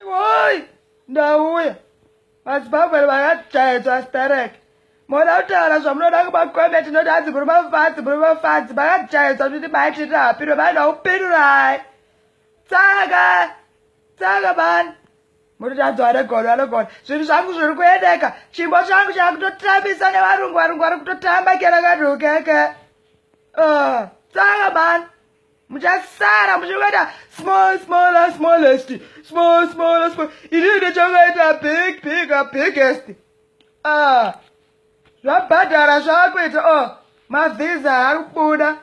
Oi, ndauya. Madzibaba vakatyaedzwa starek. Moda kutaura zvamunoda kumakombe tinoti hanzi muri mafadzi muri mafadzi makatyaedzwa kuti mai tiri hapiro vanhu vakupirurai. Tsaka, tsaka mani. Munoti hanzi vanogona vanogona. Zvinhu zvangu zviri kuendeka. Chimbo changu chakutotambisa nevarungu varungu vari kutotamba kera kanhu keke. Uh, tsaka mani. muchasara muchakaita small smaller smallest small smaller small inini ndichakaita big bigger biggest ah zvabhadhara zvakuita o oh, mavhiza ari kubuda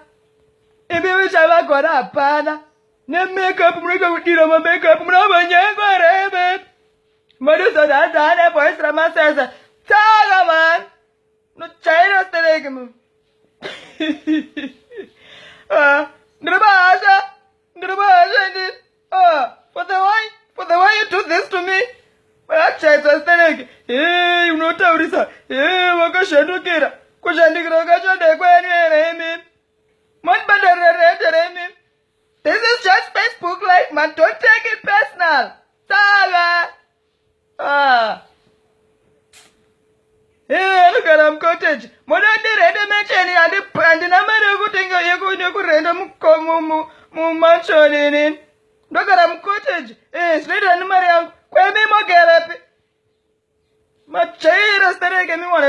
imi muchavagona hapana nemakeup munoita kudira mamakeup munomanyengwa reve madozodhadhane boys ramaseza tsaka mani Unojaira stereki mama. Ah, ndiri bahasha. Ndiri bahasha ndi. Ah, for the way for the way you do this to me. Vachaitwa stereki. Hey, unotaurisa. Hey, wakashandukira. Kushandukira kwachode kwenu here imi? Mondibhadharira rent here imi? This is just Facebook life, man. Don't take it personal. Sala. Ah. Iwe anogara mucottage moda ndirende mansion handina mari yekutenga yekurenda mumansion inini ndogara mucottage eh, zvinoita nemari yangu kwemi mogarapi majaira stereke miwana